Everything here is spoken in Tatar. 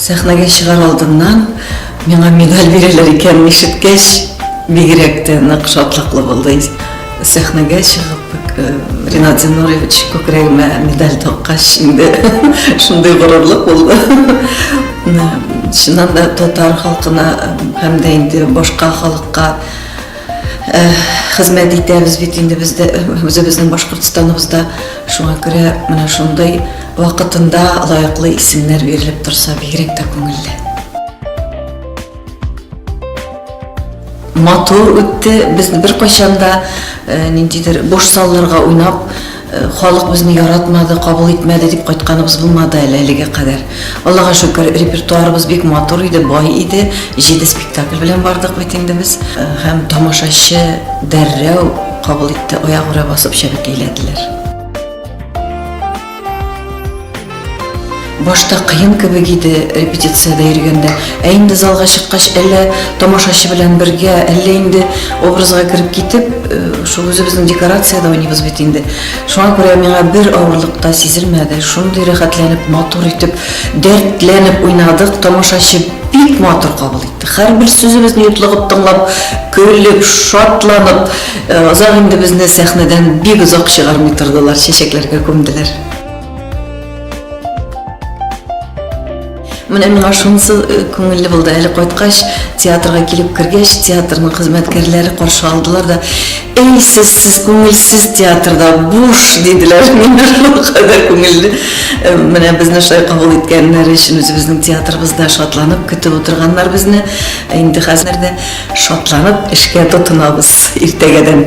Сәхнәгә чыгар алдыннан миңа медаль бирәләр икәнен ишеткәч, бигрәк тә нык шатлыклы булды. Сәхнәгә чыгып, э, Ринат Зинурович күкрәгемә медаль таккач, инде шундый горурлык булды. Чыннан да татар халкына һәм дә инде башка халыкка Хезмәт итәбез бит инде без дә үзебезнең Башкортстаныбызда. Шуңа күрә менә шундый вакытында лаеклы исемнәр бирелеп торса, бигрәк тә күңелле. Матур үтте, без беркайчан да ниндидер буш салларга уйнап, Халык безне яратмады, кабул итмәде дип кайтканыбыз булмады әле әлегә кадәр. Аллага шөкер, репертуарыбыз бик матур иде, бай иде. Җиде спектакль белән бардык бит инде без. Һәм тамашачы дәррәү кабул итте, аягүрә басып чәбәкәйләделәр. Башта кыен кебек иде репетициядә йөргәндә. Ә инде залга чыккач, әллә тамашачы белән бергә, әллә инде образга кереп китеп, э, шул үзебезнең декорациядә уйныйбыз бит инде. Шуңа күрә миңа бер авырлык та сизелмәде. Шундый рәхәтләнеп, матур итеп, дәртләнеп уйнадык. Тамашачы бик матур кабул итте. Һәрбер сүзебезне йотлыгып тыңлап, көлеп, шатланып, э, озак инде безне сәхнәдән бик озак чыгармый тордылар, чәчәкләргә күмделәр. Менә миңа шунысы э, күңелле булды. Әле кайткач, театрга килеп кергәч, театрның хезмәткәрләре каршы алдылар да, "Эй, сез, сез күңелсез театрда буш" диделәр. Менә шул кадәр күңелле. Э, менә безне шулай кабул иткәннәре өчен үзебезнең театрыбызда шатланып көтеп утырганнар безне. Инде хәзер дә шатланып эшкә тотынабыз иртәгәдән.